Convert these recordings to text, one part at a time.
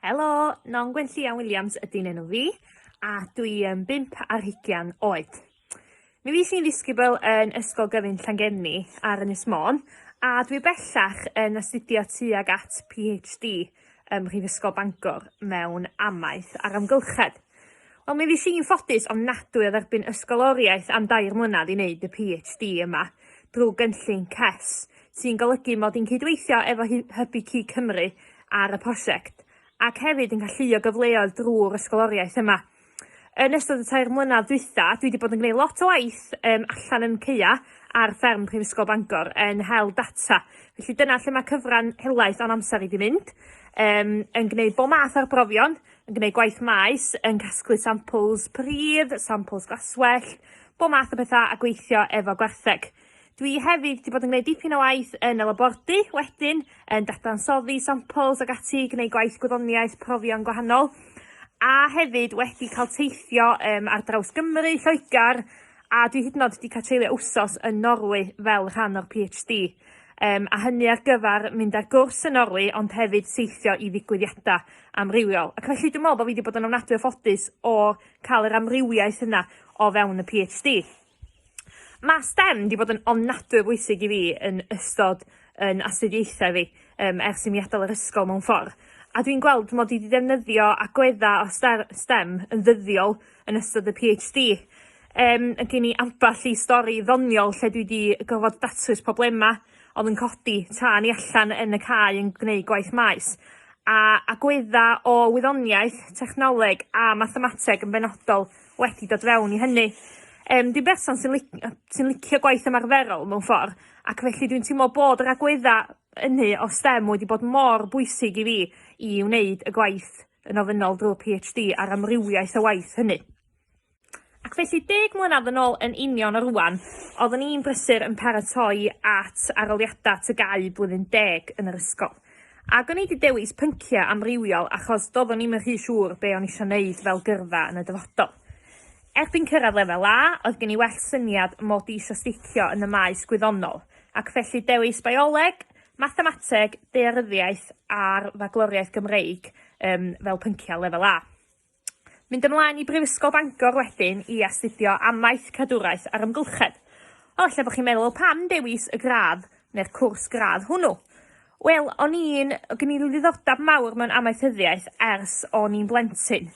Helo, Non Gwenllian Williams ydy'n enw fi, a dwi yn bimp ar hugian oed. Mi fi sy'n ddisgybl yn Ysgol Gyfun Llangefni ar Ynys Môn, a dwi bellach yn astudio tuag at PhD ym Mhrifysgol Bangor mewn amaeth a'r amgylchedd. Wel mi fues i'n ffodus ofnadwy o dderbyn ysgoloriaeth am dair mlynedd i wneud y PhD yma drwy gynllun CES, sy'n golygu mod i'n cydweithio efo Hybu Cig Cymru ar y prosiect, ac hefyd yn galluo gyfleoedd drwy'r ysgoloriaeth yma. Yn ystod y tair mlynedd dwytha, dwi wedi bod yn gwneud lot o waith um, allan yn ceia ar fferm Prifysgol Bangor yn hel data. Felly dyna lle mae cyfran helaeth o'n amser i wedi mynd, um, yn gwneud bob math o'r brofion, yn gwneud gwaith maes yn casglu sampls pridd, sampls glaswellt, bob math o bethau a gweithio efo gwartheg. Dwi hefyd wedi bod yn gwneud dipyn o waith yn y labordy wedyn, yn dadansoddi sampls ac ati, gwneud gwaith gwyddoniaeth, profion gwahanol, a hefyd wedi cael teithio um, ar draws Gymru, Lloegr, a dwi hyd yn oed wedi cael treulio wsos yn Norwy fel rhan o'r PhD. Um, a hynny ar gyfer mynd ar gwrs yn Norwy ond hefyd teithio i ddigwyddiadau. amrywiol. Ac felly dwi'n meddwl bod fi wedi bod yn ofnadwy o ffodus o cael yr amrywiaeth yna o fewn y PhD. Mae STEM wedi bod yn ofnadwy o bwysig i fi yn ystod yn astudiaethau fi um, ers i mi adael yr ysgol mewn ffordd. A dwi'n gweld mod i wedi defnyddio agweddau o STEM yn ddyddiol yn ystod y PhD. Um, gen i ambell i stori ddoniol lle dwi wedi gofod datrys problemau oedd yn codi tra ni allan yn y cae yn gwneud gwaith maes, a agwedda o wyddoniaeth, technoleg a mathemateg yn benodol wedi dod fewn i hynny. Um, dwi'n berson sy'n li sy licio gwaith ymarferol mewn ffordd, ac felly dwi'n teimlo bod yr agwedda ynny o STEM wedi bod mor bwysig i fi i wneud y gwaith yn ofynnol drwy'r PhD a'r amrywiaeth o waith hynny. Ac felly, deg mlynedd yn ôl yn union o rwan, oeddwn i'n brysur yn paratoi at aroliadau tygau blwyddyn deg yn yr ysgol. Ac o'n i wedi dewis pynciau amrywiol achos doeddwn i'm yn rhy siŵr be o'n eisiau wneud fel gyrfa yn y dyfodol. Erbyn cyrraedd lefel A, oedd gen i well syniad mod i eisiau sticio yn y maes gwyddonol, ac felly dewis bioleg, mathemateg, daearyddiaeth a'r Fagloriaeth Gymreig um, fel pynciau lefel A. Mynd ymlaen i Brifysgol Bangor wedyn i astudio Amaeth, Cadwraeth a'r Amgylchedd. O, ella bod chi'n meddwl, pam dewis y gradd neu'r cwrs gradd hwnnw? Wel, o'n i'n... gen i ddiddordeb mawr mewn amaethyddiaeth ers o'n i'n blentyn.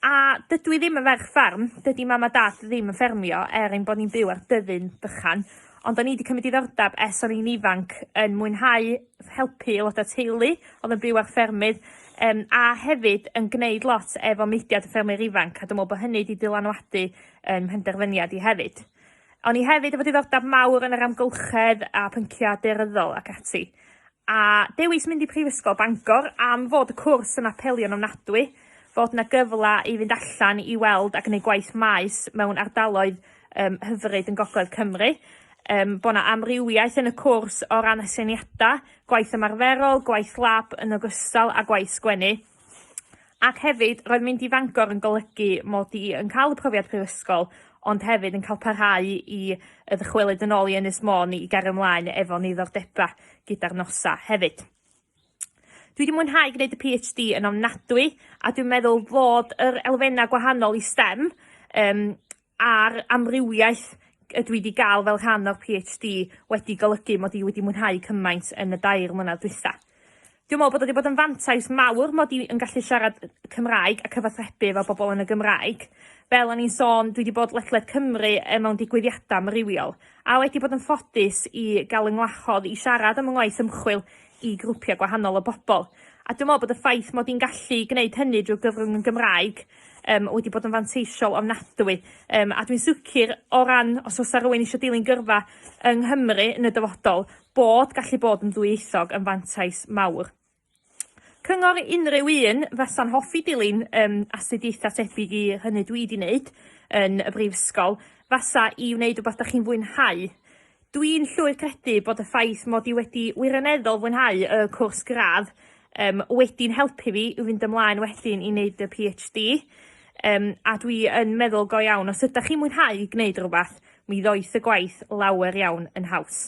A dydw i ddim yn ferch ffarm, dydy mam a dad ddim yn ffermio er ein bod ni'n byw ar dyddyn bychan, ond o'n i wedi cymryd ddiddordeb ers o'n i'n ifanc yn mwynhau helpu aelodau teulu oedd yn byw ar ffermydd, Yym, a hefyd yn gwneud lot efo mudiad y ffermwyr ifanc, a dwi'n meddwl bod hynny wedi dylanwadu yn mhenderfyniad i hefyd. O'n i hefyd efo diddordeb mawr yn yr amgylchedd a pynciau daearyddol ac ati. A dewis mynd i Prifysgol Bangor am fod y cwrs yn apelio'n ofnadwy, fod yna gyfle i fynd allan i weld a gwneud gwaith maes mewn ardaloedd um, hyfryd yn gogledd Cymru, um, bod yna amrywiaeth yn y cwrs o ran aseiniadau, gwaith ymarferol, gwaith lab yn ogystal â gwaith sgwennu. Ac hefyd, roedd mynd i Fangor yn golygu mod i yn cael y profiad prifysgol, ond hefyd yn cael parhau i y ddychwelyd yn ôl i Ynys Môn i gario ymlaen efo ni ddordeba gyda'r nosa hefyd. Dwi wedi mwynhau gwneud y PhD yn ofnadwy a dwi'n meddwl fod yr elfennau gwahanol i STEM um, a'r amrywiaeth y dwi 'di ga'l fel rhan o'r PhD wedi golygu mod i wedi mwynhau cymaint yn y dair mlynedd dwytha. Dwi'n meddwl bod o 'di bod yn fantais mawr mod i yn gallu siarad Cymraeg a cyfathrebu efo bobl yn y Gymraeg. Fel o'n i'n sôn, dwi 'di bod ledled Cymru e, mewn digwyddiadau amrywiol, a wedi bod yn ffodus i gael 'y ngwahodd i siarad am 'y ngwaith ymchwil i grwpiau gwahanol o bobl. A dwi'n meddwl bod y ffaith mod i'n gallu gwneud hynny drwy gyfrwng yn Gymraeg um, wedi bod yn fanteisiol ofnadwy. Um, a dwi'n sicr o ran os oes rhywun eisiau dilyn gyrfa yng Nghymru yn y dyfodol, bod gallu bod yn ddwyieithog yn fantais mawr. Cyngor unrhyw un fasa'n hoffi dilyn um, astudiaethau tebyg i hynny dwi wedi wneud yn y brifysgol, fasa i wneud rhywbeth da chi'n fwynhau. Dwi'n llwyr credu bod y ffaith mod i wedi wirioneddol fwynhau y cwrs gradd um, wedi'n helpu fi i fynd ymlaen wedyn i wneud y PhD. Um, a dwi yn meddwl go iawn, os ydych chi'n mwynhau gwneud rhywbeth, mi ddoeth y gwaith lawer iawn yn haws.